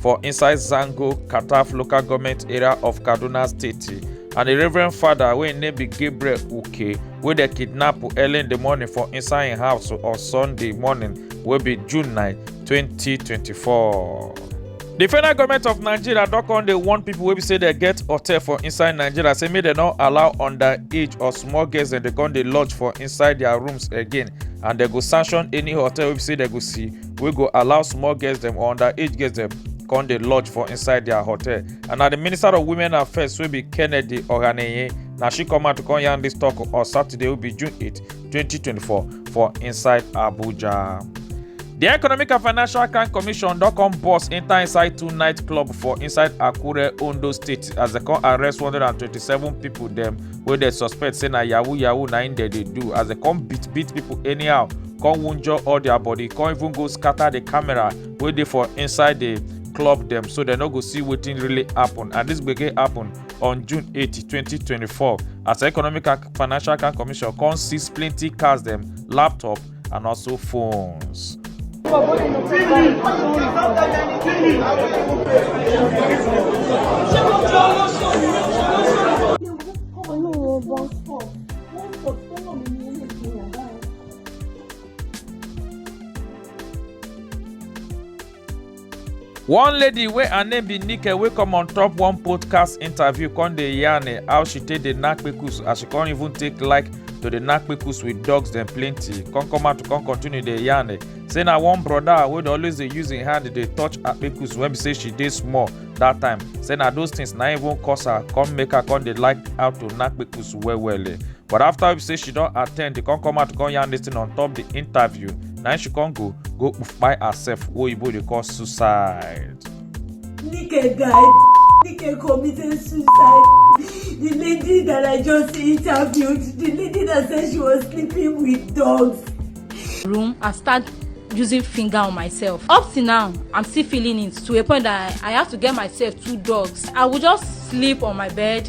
for inside Zango, Kataf local government area of Kaduna State. And the Reverend Father, wey im name be Gabriel Uke, wey dem kidnap early in the morning for inside im house on Sunday morning, wey be June 9, 2024. The federal government of Nigeria don come dey warn people wey be say dem get hotel for inside Nigeria say make dem no allow underage or small girls dem dey come dey lodge for inside their rooms again and dem go sanction any hotel wey be say dem go see wey go allow small girls dem or underage girls dem come dey lodge for inside their hotel and na the minister of women affairs wey be kennedy ohaneye na she come out to come yarn dis tok on saturday wey be june 8 2024 for inside abuja. di economic and financial crime commission don come burst enta inside two night club for inside akure ondo state as dem come arrest 127 pipo dem wey dem suspect say na yahoo yahoo na im dem dey do as dem come beat beat pipo anyhow come wunjure all their body come even go scatter the camera wey dey for inside the club dem so dem no go see wetin really happen and this gbege happen on june 8 2024 as economic and financial crime commission come seize plenty cars dem laptop and also phones. one lady wey her name be nike wey come on top one podcast interview come dey yarn eh, how she take dey knack kpekus as she come even take like to dey knack kpekus with dogs dem plenty come come out to come continue dey yarn eh, say na one broda wey dey always dey use im hand dey touch her kpekus when be say she dey small that time say na those things na even cause her come make her come dey like how to knack kpekus well well eh. but after we say she don attend e come come out come yarn this thing on top the interview na she come go go kpai herself wey oyibo dey call suicide. nike guy nike committed suicide the lady that i just interviewed the lady that said she was sleeping with dogs. room i start using finger on myself up till now i'm still feeling it to a point that i, I have to get myself two dogs i would just sleep on my bed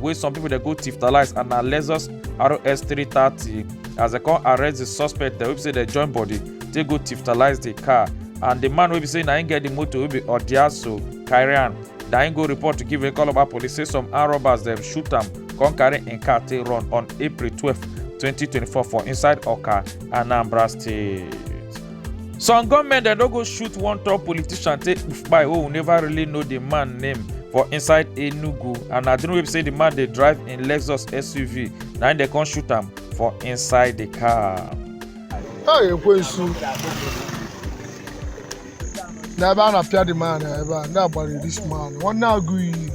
wey some pipo dey go tiftalize and na lexus rs 330 as dem come arrest di suspect dem wey be say dem join body take go tiftalize di car and di man wey be say na im get di motor wey be odiaso carry am na im go report to give ikoloba police say some armed robbers dem shoot am come carry im car take run on april twelve twenty twenty four for inside oka anambra state. some gunmen dem don go shoot one tall politician take kpai wey we never really know di man name for inside enugu and na during wey be say di man dey drive im lexus suv na im dem come shoot am for inside di car. a ekwensu n'ebe a na-apịa dị man ebe a ndị agbara this man nwanne agụ iyi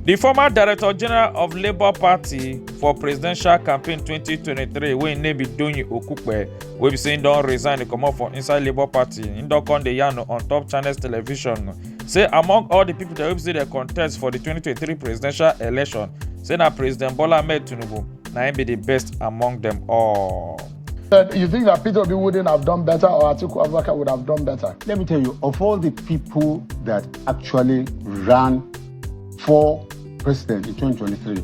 di former director general of labour party for presidential campaign 2023 wey im name be doyin okupe wey be say im don resign dey comot for inside labour party im don come dey yarn on top channels television say among all di pipo dem wey be say dem contest for di 2023 presidential election say na president bola ahmed tinubu na im be di best among dem all. But you think that Peter Obi wouldn't have done better or Atiku Abubakar would have done better? Let me tell you, of all the people that actually ran for president in 2023,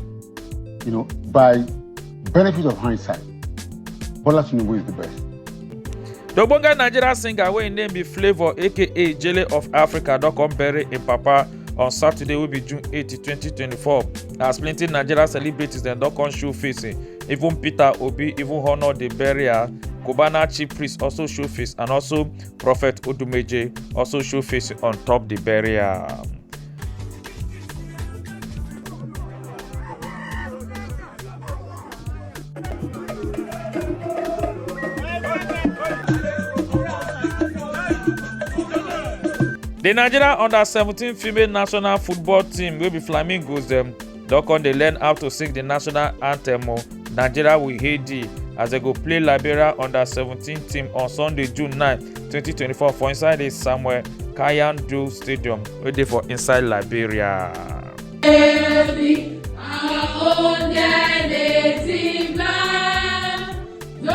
you know, by benefit of hindsight, Bola Tinubu is the best. The Ogbonge Nigerian singer wey im name be Flavour aka Jele of Africa don come bury im papa on Saturday wey be June 8, 2024 as plenty Nigerian celebrities dem don come show face eh, even Peter Obi even honour the burial, Cubana chief priest also show face and also Prophet Odumeje also show face on top the burial. The Nigeria under-17 female national football team wey be Flamingos dem don come dey learn how to sing the national anthem o nigeria we hail thee as dem go play liberia under seventeen team on sunday june nine twenty twenty four for inside the samuel kayando stadium wey dey for inside liberia. Every our own native land, no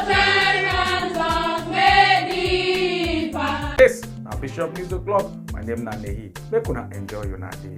tyrants of any part. Yes, na Bishop News O'Clock. My name na Nehi. Make una enjoy una day.